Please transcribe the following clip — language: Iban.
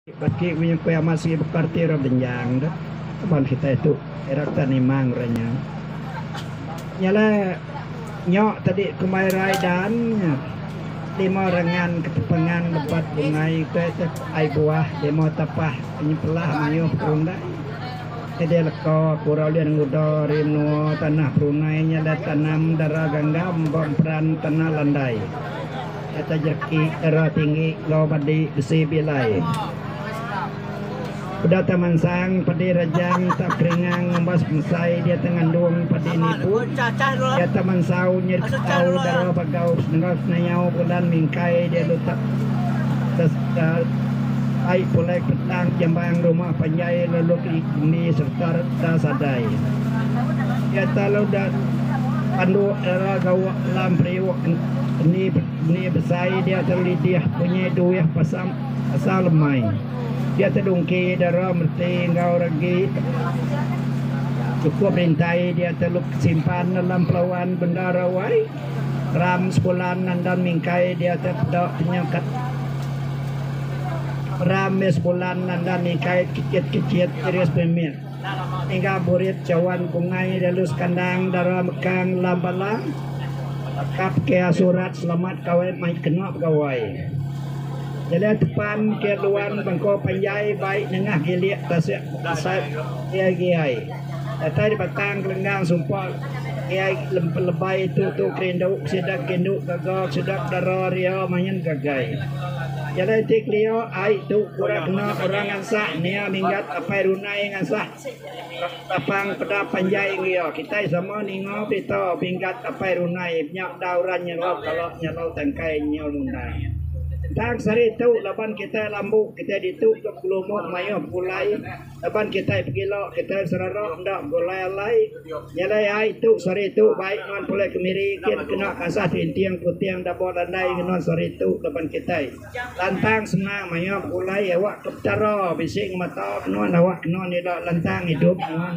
Baki punya ku iya amat sigi bukar ti ira benjang dah laban kitai tu ira ka nimang ora nya. Nya la nyo tadi kumbai rai dan nya limo rengan ketepengan lebat bungai utai tu ai buah limo tapah nyempelah mayuh perundai nyadi leko ku ora ulih ngudo ari menua tanah brunei nya la tanam dara ganggam ba emperan tanah landai. Kata jaki era tinggi enggau madi besi bilai. Peda ta mansang padi rajang ta peringang ngumbas pemesai dia ta ngandung padi nipu dia ta mansau nyir ketau dara bagau enggau senayau bulan mingkai dia lutak ai pulai petang jambang rumah panjai lalu kendi sereta da sadai. Dia ta lalu da pandu dara gawa. Alam periuk eni besai dia tau lidih punyai duih pasal lemai. Dia tedungki dara meti enggau regi chukup rintai dia telu kesimpan alam pelawan bendar awai ram sebulan andan mingkai dia tau peda tenyangkat ram meh sebulan andan mingkai kechit kechit iris pemit. Enggau burit cawan bungai lalu sekandang dara mekang lam bala kap ke surat selamat kawai mai kena begawai. Jalai tepan ke luan bengkau panjai bai nengah gilik tasik asat giai-giai. Datai di batang kelenggang sumpa giai pelebai tu tu kerindu sida ke indu gaga ke sida ke dara ria main ngagai. Jalai ti kelia ai tu kura kena orang ngansak nia minggat apai runai ngasah tapang peda panjai enggio kitai sama ninga berita minggat apai runai nya enda orang nyelok kala nyelok tangkai nyiul mundai tang sehari tu laban kitai lambu kitai ditu ke pengelumuk maioh pulai. Laban kitai pegila, kitai serara enda begulai-alai nyelai ai tu sehari tu baik nuan pulai kemiri gin kena kasah tinting puting dabo landai ngen nuan sehari tu laban kitai lantang senang maya begulai awak ke Petara bisi ngemata ke nuan awak kena nila lantang idup nuan.